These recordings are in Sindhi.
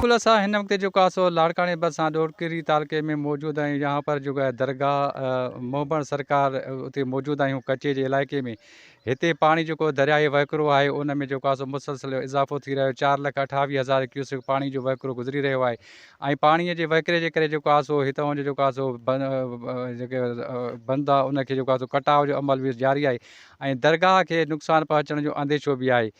خلاصه، هن وقت جو ڪاسو لاڙڪاڻي ڀرسان ڏورڪري تعلقي ۾ موجود آهيون، يهان پر جڳهه درگاهه موبڻ سرڪار اتي موجود آهيون، ڪچي جي علائقي ۾، هتي پاڻي جيڪو درياهي وهڪرو آهي ان ۾ جو ڪاسو مسلسل اضافو ٿي رهيو، چار لک اٺاويهه هزار ڪيوسڪ پاڻي جو وهڪرو گذري رهيو آهي، ۽ پاڻيء جي وهڪري جي ڪري جيڪو آهي سو هتان جو جيڪو آهي سو جيڪي بند آهي ان کي جيڪو آهي سو ڪٽاء جو عمل به جاري آهي ۽ درگاهه کي نقصان پهچڻ جو انديشو به آهي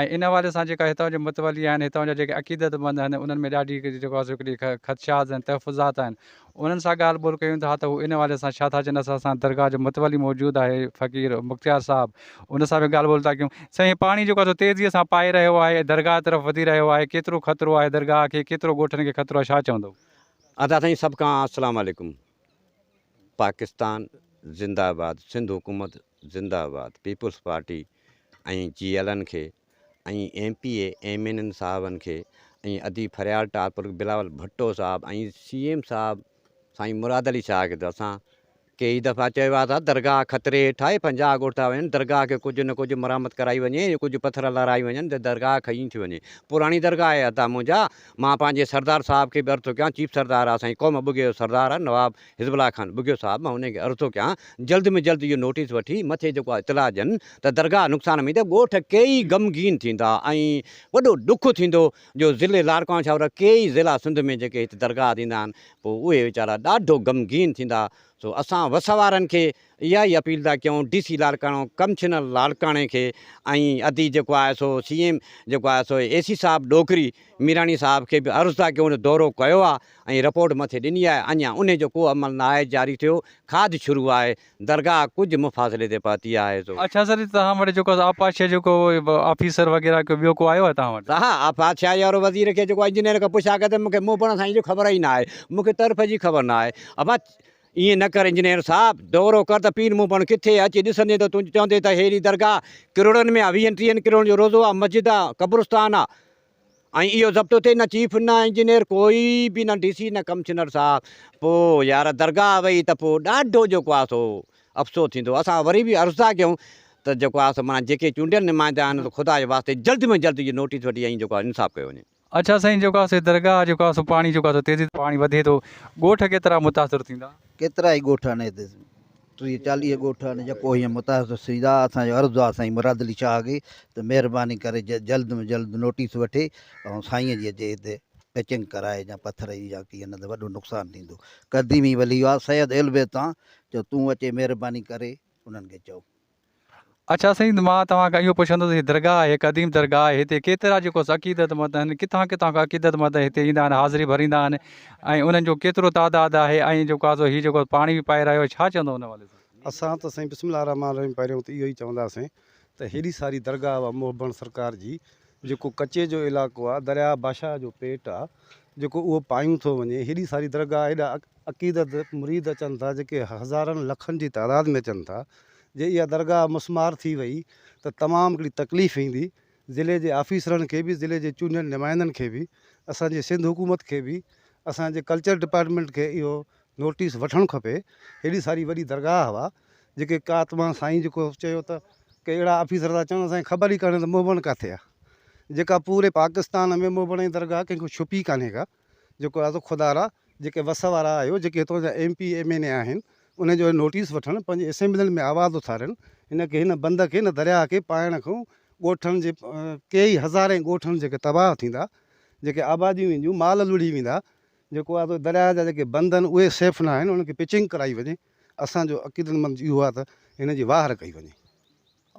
۽ ان حوالي سان جيڪا هتان جو متولي آهن هتان جا جيڪي عقيدت مند آهن انهن ۾ ڏاڍي جيڪو آهي سو هڪڙي خدشات ۽ تحفظات آهن انهن سان ڳالهه ٻولهه ڪيون ٿا ته هو ان حوالي سان ڇا ٿا چون اسان سان درگاهه جو متولي موجود آهي فقير مختيار صاحب ان سان به ڳالهه ٻولهه ٿا ڪيون. سائين هي پاڻي جيڪو آهي سو تيزيء سان پائي رهيو آهي، درگاهه طرف وڌي رهيو آهي، ڪيترو خطرو آهي درگاهه کي، ڪيترو ڳوٺن کي خطرو آهي، ڇا چوندؤ؟ ادا سائين سڀ کان اسلام عليڪم پاڪستان زنده آباد سنڌ حڪومت زنده آباد پيپلز پارٽي ۽ جي ايلن کي ۽ M P A M N N صاحبن کي ۽ اديب فريال ٽالپر بلاول ڀٽو صاحب ۽ سي ايم صاحب سائين مراد علي شاهه کي ته اسان ڪيئي دفعا چيو آهي ته درگاهه خطري هيٺ آهي پنجاهه ڳوٺا وڃن درگاهه کي ڪجهه نه ڪجهه مرمت ڪرائي وڃي ڪجهه پٿر لارائي وڃن ته درگاهه کئي ٿي وڃي پراڻي درگاهه آهي ادا منهنجا مان پنهنجي سردار صاحب کي به عرض ٿو ڪيان چيف سردار آ سائين قوم ٻگهي جو سردار آ نواب حزب الله خان ٻگهيو صاحب مان انهن کي عرض ٿو ڪيان جلد ۾ جلد اهو نوٽيس وٺي مٿي جيڪو آهي اطلاع ڏين ته درگاهه نقصان ۾ ته ڳوٺ ڪيئي غمگين ٿيندا ۽ وڏو ڏک ٿيندو جو ضلعي لاڙڪاڻو ڇا پر ڪيئي ضلع سنڌ ۾ جيڪي هت درگاهه ٿيندا آهن پوء اهي ويچارا ڏاڍو غمگين ٿيندا سو اسان وس وارن کي اها ئي اپيل ٿا ڪيون ڊي سي لاڙڪاڻو ڪمشنر لاڙڪاڻي کي ۽ ادي جيڪو آهي سو سي ايم جيڪو آهي سو اي سي صاحب ڏوڪري ميراڻي صاحب کي به عرض ٿا ڪيون دورو ڪيو آهي ۽ رپورٽ مٿي ڏني آهي اڃا انهي جو ڪو عمل نه آهي جاري ٿيو کاڌ شروع آهي درگاهه ڪجهه مفاصلي تي پهتي آهي سو اڇا سر جي توهان وٽ جيڪو آبپاشيء جو ڪو آفيسر وغيره ڪو ٻيو ڪو آيو آهي توهان وٽ. سا آبپاشيء وارو وزير کي جيڪو انجنيئر کان پڇا ڪيو ته مون کي مون پڙهڻ سائين جي خبر ئي نه آهي مون کي طرف جي خبر نه آهي ابا ائين نه ڪر انجنيئر صاحب، دؤرو ڪر ته پير مون پڻ ڪٿي اچي ڏسندين ته تون چوندين ته هيء درگاهه ڪروڙن ۾ آ، ويهن ٽيهن ڪروڙن جو روضو آ، مسجد آ، قبرستان آ ۽ اهو ضبط اٿئي نه چيف نه انجنيئر ڪوئي به نه ڊي سي نه ڪمشنر صاحب، پوء يار درگاهه وئي ته پوء ڏاڍو جيڪو آ سو افسوس ٿيندو، اسان وري به عرض ٿا ڪيون ته جيڪو آ سو معنيٰ جيڪي چونڊيل نمائندا آهن ته خدا جي واسطي جلد ۾ جلد اهي نوٽيس وٺي ۽ جيڪو آ انصاف ڪيو وڃي. اڇا سائين جيڪو آسي درگاهه جيڪو آسو پاڻي جيڪو آسو تيزي پاڻي وڌي ٿو ڳوٺ ڪيترا متاثر ٿيندا. ڪيترائي ڳوٺ آهن هتي ٽيهه چاليهه ڳوٺ آهن جيڪو هيئن متاثر ٿيندا اسان جو عرض آهي سائين مراد علي شاهه کي ته مهرباني ڪري جلد ۾ جلد نوٽيس وٺي ۽ سائين جي اچي هتي پيچنگ ڪرائي جا پٿر جي جا ڪيئن نه ته وڏو نقصان ٿيندو قديمي ولي هئا سيد اهلبيت تان جو تون اچي مهرباني ڪري انهن کي چئو. اڇا سيد مان توهان کان اهو پڇندس هي درگاهه آهي قديم درگاهه آهي هتي ڪيترا جيڪو عقيدت مند آهن ڪٿان ڪٿان کان عقيدت مند هتي ايندا آهن حاضري ڀريندا آهن ۽ انهن جو ڪيترو تعداد آهي ۽ جيڪو آهي سو هي جيڪو پاڻي به پائي رهيو آهي ڇا چوندو ان حوالي سان. اسان ته سائين بسم الله الرحمٰن الرحيم پهريون ته اهو ئي چونداسين ته هيڏي ساري درگاهه هئا محب بڻ سرڪار جي جيڪو ڪچي جو علاقو آ، درياهه باشاهه جو پيٽ آ، جيڪو اهو پايون ٿو وڃي، هيڏي ساري درگاهه، هيڏا عقيدت مريد اچن ٿا، جيڪي هزارن لکن جي تعداد ۾ اچن ٿا، جي اها درگاهه مسمار ٿي وئي ته تمام هڪڙي تڪليف ايندي، ضلعي جي آفيسرن کي به، ضلعي جي چونڊيل نمائندن کي به، اسان جي سنڌ حڪومت کي به، اسان جي ڪلچر ڊپارٽمينٽ کي اهو نوٽيس وٺڻ کپي هيڏي ساري وڏي درگاهه هوا جيڪي ڪا تمان سائين جيڪو چيو ته ڪي اهڙا آفيسر ٿا چون اسان کي خبر ئي ڪانهي ته موبڻ ڪاٿي آ جيڪا پوري پاڪستان ۾ موبڻ جي درگاهه ڪنهن کان ڇپي ڪانهي ڪا جيڪو آ سو خدا را جيڪي وس وارا آهيو جيڪي هتان جا M P M N A آهن انهن جو نوٽيس وٺڻ پنهنجي اسيمبلين ۾ آواز اٿارين هن کي هن بند کي هن درياهه کي پائڻ کان ڳوٺن جي ڪيئي هزارين ڳوٺن جيڪي تباهه ٿيندا جيڪي آباديون وينديون مال لڙهي ويندا. جيڪو آهي سو درياهه جا جيڪي بند آهن اهي سيف ناهن انهن کي پچنگ ڪرائي وڃي اسان جو عقيدتمند اهو آهي ته هن جي واهر ڪئي وڃي.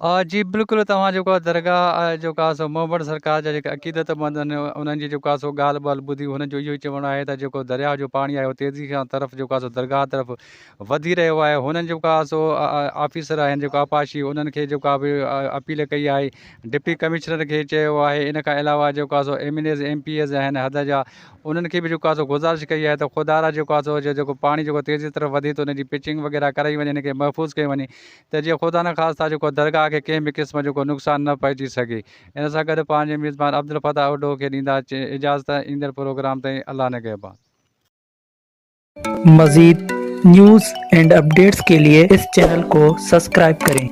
آ جي بلڪل توهان جيڪو آهي درگاهه آهي جيڪو آهي سو محمد سرڪار جا جيڪي عقيدتمند آهن انهن جي جيڪو آهي سو ڳالهه ٻالهه ٻڌي هنن جو اهو ئي چوڻ آهي ته جيڪو درياهه جو پاڻي آهي اهو تيزي سان طرف جيڪو آهي سو درگاهه طرف وڌي رهيو آهي هنن جيڪو آهي سو آفيسر آهن جيڪو آبپاشي انهن کي جيڪو آهي به اپيل ڪئي آهي ڊپٽي ڪمشنر کي چيو آهي ان کان علاوه جيڪو آهي سو M N As M P As آهن حد جا انهن کي به جيڪو آهي سو گذارش ڪئي آهي ته خدا را جيڪو آهي سو جيڪو پاڻي جيڪو تيزي طرف وڌي ٿو ان جي پچنگ وغيره ڪرائي وڃي ان کي محفوظ ڪيو وڃي ته جيئن خدا نه خاصتا جيڪو درگاهه کي ڪنهن به قسم جيڪو نقصان نه پهچي سگهي ان سان گڏ پنهنجي ميزبان عبدالفتاح اوڍو کي ڏيندا اجازت ايندڙ پروگرام تائين الله نگهبان. مزيد نيوز اينڊ اپڊيٽس ڪي لئي اس چينل ڪو سسڪرائب ڪرين.